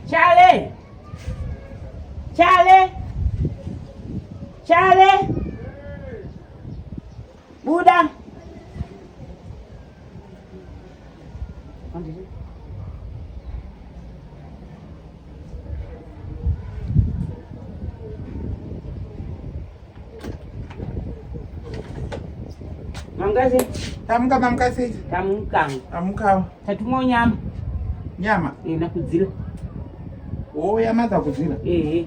Chale! Chale! Chale! Buda. Mamkazi. Tamuka mamkazi. Tamuka. Tamuka. Tatumwa nyama. Nyama. Eh, nakudzira. Oh, yamadha kudzira. Eh.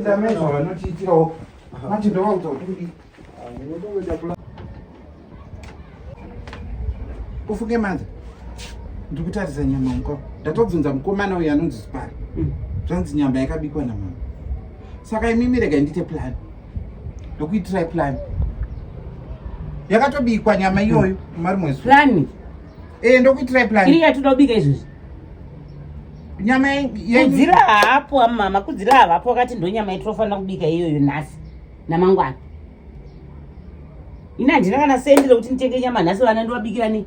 ndamezva vanotiitirawo mati ndovaudza kuti kudii ufunge manje ndiri kutarisa nyama mukwa ndatobvunza mukomana uyo anonzi zipari mm. zvanzi nyama yakabikwa namama saka imimi rega ndiite plan ndokuitirai plan yakatobikwa nyama iyoyo mm. mari mweziplan ee eh, ndokuitirai plan iri yatinoda kubika izvozvi nyama yedzira hapo amama kudzira havapo wakati ndo nyama yatinofanira kubika iyoyo nhasi namangwana ini handina kana sendi rekuti nditenge nyama nhasi vana ndovabikira nei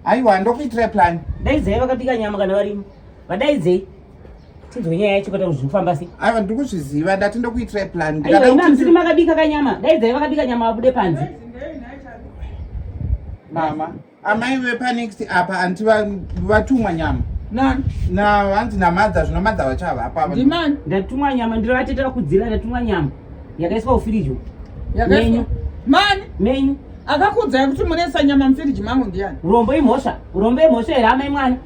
aiwa ndokuitira plan daidzai vakabika nyama kana varimo vadaidzei tinzwe nyaya yacho kota kuzvikufamba sei aiwa ndiri kuzviziva ndati ndokuitira plan ndikadaimamsiri makabika kanyama daidzai vakabika nyama vabude panze mama amai vepanext apa anti vatumwa nyama navanzi namadha zvino madha vachavapa ndatumwa nyama ndiro vatete vakudzira ndatumwa nyama yakaiswa ufirijo menyu mani menyu akakudzai kuti munesa nyama mufiriji mangu ndiyani urombo imhosva urombo imhosva here amai mwana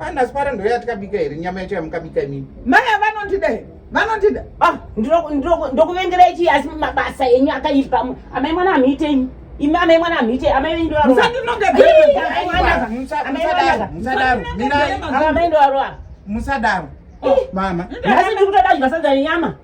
Ana sipara ndo yatikabika here nyama yacho yamukabika imini. Maya vanondida here? Vanondida. Ah, ndokuvengerai chii asi mabasa enyu akaipa. Amai mwana hamuite imi. Imi amai mwana hamuite amai venyu ndovaroa. Musadinonge bebe. Musadaro. Musadaro. Mirai. Amai ndovaroa. Musadaro. Oh, mama. Nhasi ndikutoda zvasadza nenyama.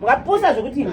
Mwapusa zvekuti imi.